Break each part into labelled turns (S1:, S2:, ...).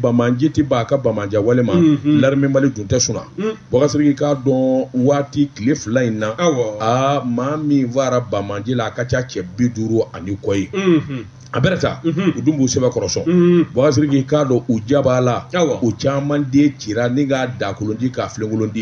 S1: banbaanci tɛ ban a ka banbaanciya wale ma mhm. larime mali dun tɛ suna mhm. bɔgasiriki k'a dɔn waati tile fila in na aa maa min faara banbaanci la a ka ca cɛ bi duuru ani kɔ ye mhm. a bɛrɛ ta u dun b'u sɛbɛkɔrɔ sɔn bɔgasiriki k'a dɔn u jabala u caman de cira ni k'a dagakolonci k'a filenkolonci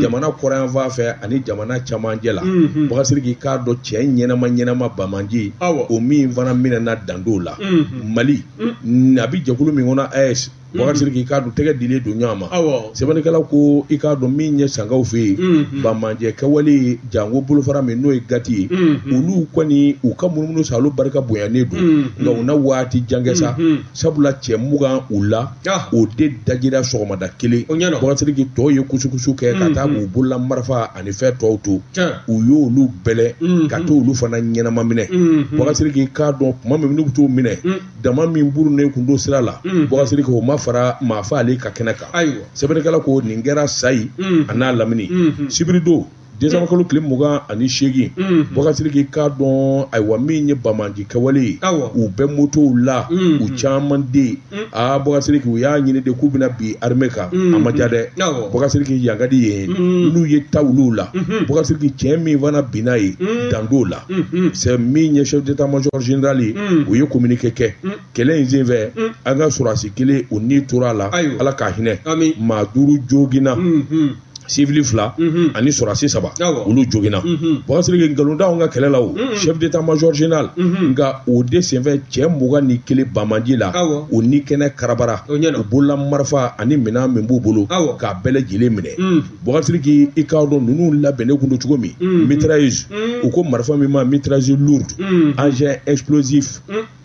S1: jamana kɔrɔnyanfan fɛ ani jamana camancɛ la bɔgasiriki k'a dɔn cɛ ɲɛnama ɲɛnama banbaanci o min fana minɛna dan t'o la mali mm. a bɛ jɛkulu min kɔnɔ AES mm. bɔgasiriki i k'a dɔn tɛgɛ dilen don ɲɔgɔn ma sɛbɛnnikɛla ko i k'a dɔn min ye sankaw fɛ yen mm-hmm. banbaanciya kɛwale janko bolofara min n'o ye gati ye mm-hmm. olu kɔni u ka munumunu sa olu barika bonyanen don mm-hmm. nka u na waati jan kɛ sa sabula cɛ mugan u la ah. o de dajira sɔgɔmada kelen bɔgasiriki tɔw ye kusukusu kɛ ka taa k'u bolola marifa ani fɛn tɔw to u y'olu bɛlɛ mm-hmm. ka to olu fana ɲɛnama minɛ mm-hmm. bɔgasiriki i k'a dɔn kuma min n'u bɛ tɔw minɛ mm. dama min burunnen kun don sira la mm. bɔgasiriki o ma fara maa faalen kan kɛnɛ kan sɛbɛnnikɛla ko nin kɛra sayi mm. a n'a lamini mm-hmm. sibiridon desanba kalo tile mugan ani seegin mm-hmm. bɔgasiriki k'a dɔn ayiwa min ye banbaanci kɛwale ye u bɛ motow la u caman de Mm. aa bɔgasiriki u y'a ɲini de k'u bɛna bin arime kan mm. a ma ja dɛ bɔgasiriki yankadi yen mm. n'u ye ta olu la mm-hmm. bɔgasiriki cɛ min fana binna yen dan t'o la mm-hmm. c'est min ye chef d'état major général ye u ye communiqué kɛ kɛlɛ in senfɛ an ka sɔrɔdasi kelen o ni tora a la ala k'a hinɛ maa duuru joginna mm-hmm. sivili fila mhm. ani sɔrɔdasi saba olu joginna mhm. bɔgasiriki nkalon t'anw ka kɛlɛ la o mhm. chef d'état major général nka o de senfɛ cɛ mugan ni kelen banbaanci la o ni kɛnɛ karabara u bolola marifa ani minɛn min b'u bolo k'a bɛɛ lajɛlen minɛ bɔgasiriki i k'a dɔn ninnu labɛnnen kun don cogo min mitrailleuse u ko marifa min ma mitrailleuse lourde engin explosif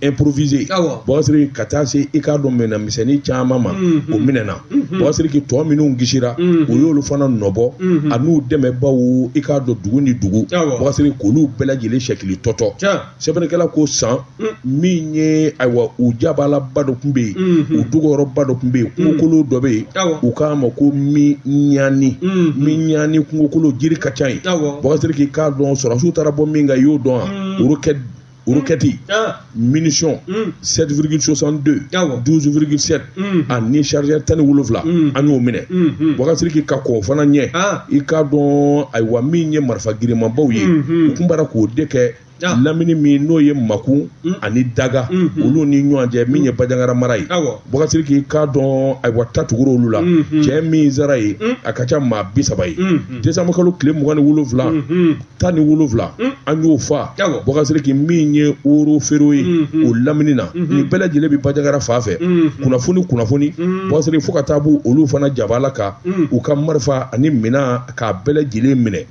S1: improvisé awɔ bɔgasiriki ka taa se i k'a dɔn minɛn misɛnnin caman ma o minɛna bɔgasiriki tɔ minnu kisira o y'olu fana nɔbɔ a n'u dɛmɛbaaw i k'a dɔn dugu ni dugu Awɔ. bɔgasiriki k'olu bɛɛ lajɛlen sɛkili tɔtɔ tiɲɛ sɛbɛnnikɛla ko san min ye ayiwa u jabalaba dɔ tun bɛ yen u dogoyɔrɔba dɔ tun bɛ yen kungokolo dɔ bɛ yen Awɔ. u k'a ma ko miɲani Mhm. miɲani kungokolo jiri ka ca yen Awɔ. bɔgasiriki i k'a dɔn sɔrɔdasiw taara bɔ min kan i y'o dɔn wa olu kɛ Roquette, ah. munitions, 7,62, 12,7, ani chargeur tan ni wolonwula an y'o minɛ bɔgasiriki ka kɔn fana ɲɛ ah. i k'a dɔn ayiwa min ye marifa girinmanbaw ye u tun b'a k'o de kɛ ah. lamini min n'o ye makun mm. ani daga mm, mm. olu ni ɲɔgɔn cɛ min ye bajangara mara ye bɔgasiriki i k'a dɔn ayiwa ta tugura olu la cɛ min sara yen a ka ca maa bi saba ye desanbakalo tile mugan ni wolonwula tan ni wolonwula mm. an y'o fa Bubakari Sidiki min ye woro feere ye mm-hmm. o lamini na mm-hmm. nin bɛɛ lajɛlen bɛ Bajagara fan fɛ mm-hmm. kunnafoni kunnafoni Bubakari Sidiki fo ka taa b'u olu fana jabala kan mm. u ka marifa ani minɛn k'a bɛɛ lajɛlen minɛ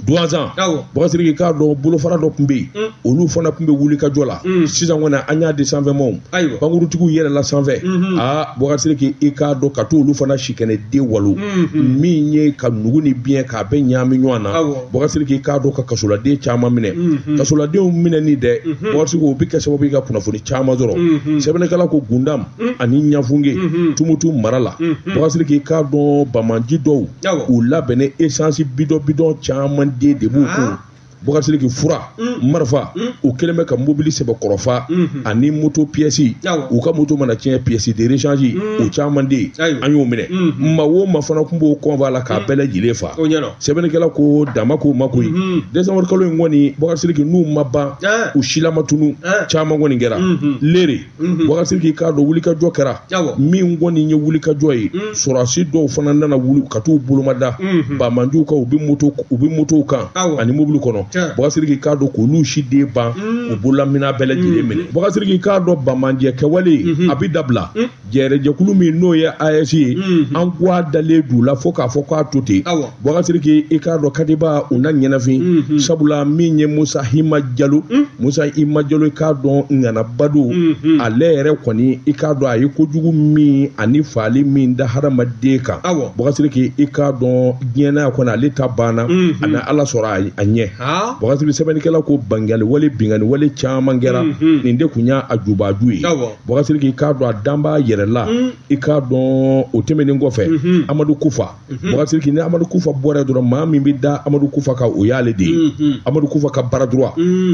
S1: Duwanza Bubakari Sidiki k'a dɔn bolofara dɔ tun bɛ yen mm. olu fana tun bɛ wulikajɔ la mm. sisan kɔni an y'a di sanfɛmaw pankuruntigiw yɛlɛla sanfɛ aa Bubakari Sidiki i k'a dɔn ka to olu fana sikɛnɛ den walo mhm. min ye ka nugu ni biɲɛ k'a bɛɛ ɲaami ɲɔgɔn na Bubakari Sidiki k'a dɔn ka kasoladen caman minɛ mhm. kasoladenw minɛni dɛ mhm. Bubakari Sidiki o bɛ kɛ sababu ye ka kunnafoni caman sɔrɔ sɛbɛnnikɛla ko Gundam ani Ɲafunke Tumutu mara la Bubakari Sidiki k'a dɔn banbaanci dɔw u labɛnnen esansi bidɔn bidɔn caman de de b'u kun Boubacar Sidiki fura mm. marifa mm. u kɛlen bɛ ka mobili sɛbɛkɔrɔ fa mm-hmm. ani moto piyɛsi u ka moto mana tiɲɛ pièce de rechange mm. o caman de an y'o minɛ mm-hmm. maa o maa fana tun b'o convoi la k'a bɛɛ lajɛlen fa sɛbɛnnikɛla ko dama k'o ma koyi mm-hmm. décembre kalo in kɔni Boubacar Sidiki n'u ma ban eh. u silama tunu eh. caman kɔni kɛra Lere Mhm. Bubakari Sidiki k'a dɔn wulikajɔ kɛra min kɔni ye wulikajɔ ye mhm. sɔrɔdasi dɔw fana nana wuli ka t'u bolo mada mhm. banbaanciw kan u bɛ moto u bɛ motow kan ani mobili kɔnɔ Bubakari Sidiki k'a dɔn k'olu si den ban u bololaminɛn bɛɛ lajɛlen minɛ Bubakari Sidiki k'a dɔn banbaanciya kɛwale a bɛ dabila jɛrɛjɛkulu min n'o ye AES ye an k'a dalen d'u la fo k'a fɔ k'a to ten. Bubakari Sidiki i k'a dɔn Katiba u na ɲɛnafin, unhun, sabula min ye Musa Hima Jalo, un, Musa Hima Jalo i k'a dɔn ŋana badu, unhun, ale yɛrɛ kɔni i k'a dɔn a ye kojugu min ani fagali min da hadamaden kan, awɔ, Bubakari Sidiki i k'a dɔn diɲɛ na yan kɔni ale ta banna, unhun, a na Ala sɔrɔ a ɲɛ, haa, Bubakari Sidiki sɛbɛnnikɛla ko bangiyali wale binkanni wale caman kɛra, unhun, nin de tun y'a jubaju ye, awɔ, Bubakari Sidiki i k'a dɔn a danb'a yɛrɛ la, un, i k'a dɔn o tɛmɛnen kɔfɛ, unhun, Amadu Kufa Bakari Sidiki ni Amadu Kufa bɔra yen dɔrɔn maa min bɛ da Amadu Kufa kan o y'ale de ye Amadu Kufa ka bras droit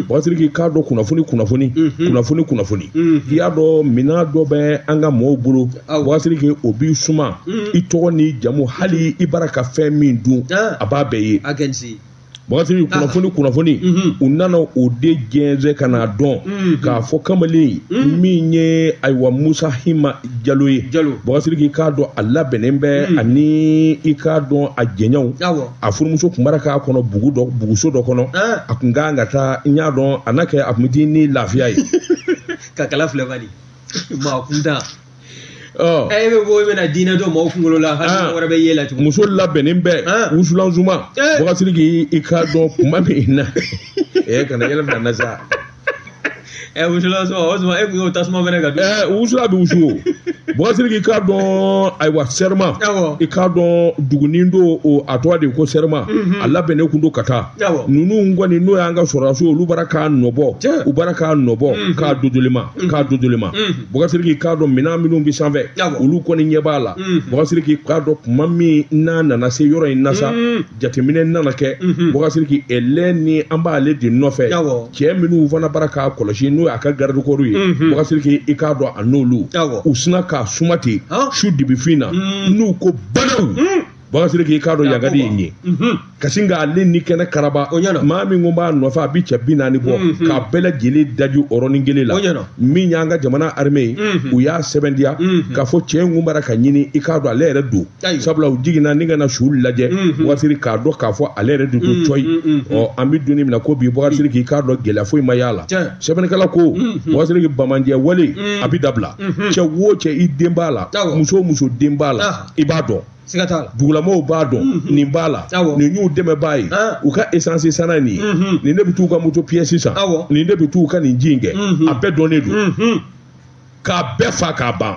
S1: Bakari Sidiki k'a dɔn kunnafoni kunnafoni kunnafoni kunnafoni i y'a dɔn minɛn dɔ bɛ an ka mɔɔw bolo Bakari Sidiki o b'i suma i tɔgɔ n'i jamu hali i bara ka fɛn min dun a b'a bɛɛ ye. Bakari Sidiki ah. kunnafoni kunnafoni mhm. u nana o de jɛnsɛn ka n'a dɔn mhm. k'a fɔ kamalen mhm. min ye ayiwa Musa Hima Jalo ye Bakari Sidiki k'a dɔn a labɛnnen bɛ ani i k'a dɔn a jɛɲɔgɔnw a furumuso tun bara k'a kɔnɔ bugu dɔ buguso dɔ kɔnɔ ah. a tun ka kan ka taa n y'a dɔn a n'a kɛ a tun bɛ di ni lafiya ye ka kala
S2: filɛ bani maa kun da e bɛ bɔ i bɛna diinɛ don mɔgɔw kunkolo la hali wɛrɛ b'i ɲɛ la tugun muso labɛnnen
S1: bɛ wusulan suma bakasiriki i k'a dɔn kuma min na ɛ kana yɛlɛ bila n na sa ɛ
S2: wusulan suma o suma e kun y'o tasuma mɛnɛ ka don ɛ wusulan bɛ wusu
S1: o bakasiriki i k'a dɔn ayiwa sɛrima i k'a dɔn dugunin don o a tɔgɔ de ko sɛrima a labɛnnen kun don ka taa ninnu kɔni n'o y'an ka sɔrɔdasiw olu bara k'a nɔbɔ u bara k'a nɔbɔ k'a dodolima Mm. k'a dodolima mm. bakasiriki k'a dɔn minɛn minnu bɛ sanfɛ olu kɔni ɲɛ b'a la mm. bakasiriki k'a dɔn kuma min n'a nana se yɔrɔ in na sa jateminɛ nana kɛ mm-hmm. bakasiriki ale ni an b'ale de nɔfɛ cɛ minnu fana bara k'a kɔlɔsi n'o y'a ka garidikɔriw ye mm-hmm. bakasiriki i k'a dɔn a n'olu u sinna k'a suma ten su dibifin na n'u ko badaw bakasiriki i k'a dɔn yagadi ye n ye kasi nka ale ni kɛnɛkaraba maa min kun b'a nɔfɛ a bi cɛ bi naani bɔ k'a bɛɛ lajɛlen daji yɔrɔnin kelen la min y'an ka jamana arme ye u y'a sɛbɛntiya k'a fɔ cɛ in kun bara ka ɲini i k'a dɔn ale yɛrɛ don sabula u jiginna ni ka na su lajɛ bakasiri k'a dɔn k'a fɔ ale yɛrɛ de don cɔyi ɔ an bi don min na ko bi bakasiriki i k'a dɔn gɛlɛya foyi ma y'a la sɛbɛnnikɛla ko bakasiriki bamanjɛ wale a bi dabila cɛ wo cɛ i den b'a la muso o muso den b'a la i b'a dɔn dugulamɔgɔw b'a dɔn mhm. nin b'a la nin y'u dɛmɛbaa ye ah. u ka esansi sanna nin ye mhm. nin de bɛ t'u ka moto piyɛsi san nin de bɛ t'u ka nin ji in kɛ mhm. a bɛɛ dɔnnen don k'a bɛɛ fa k'a ban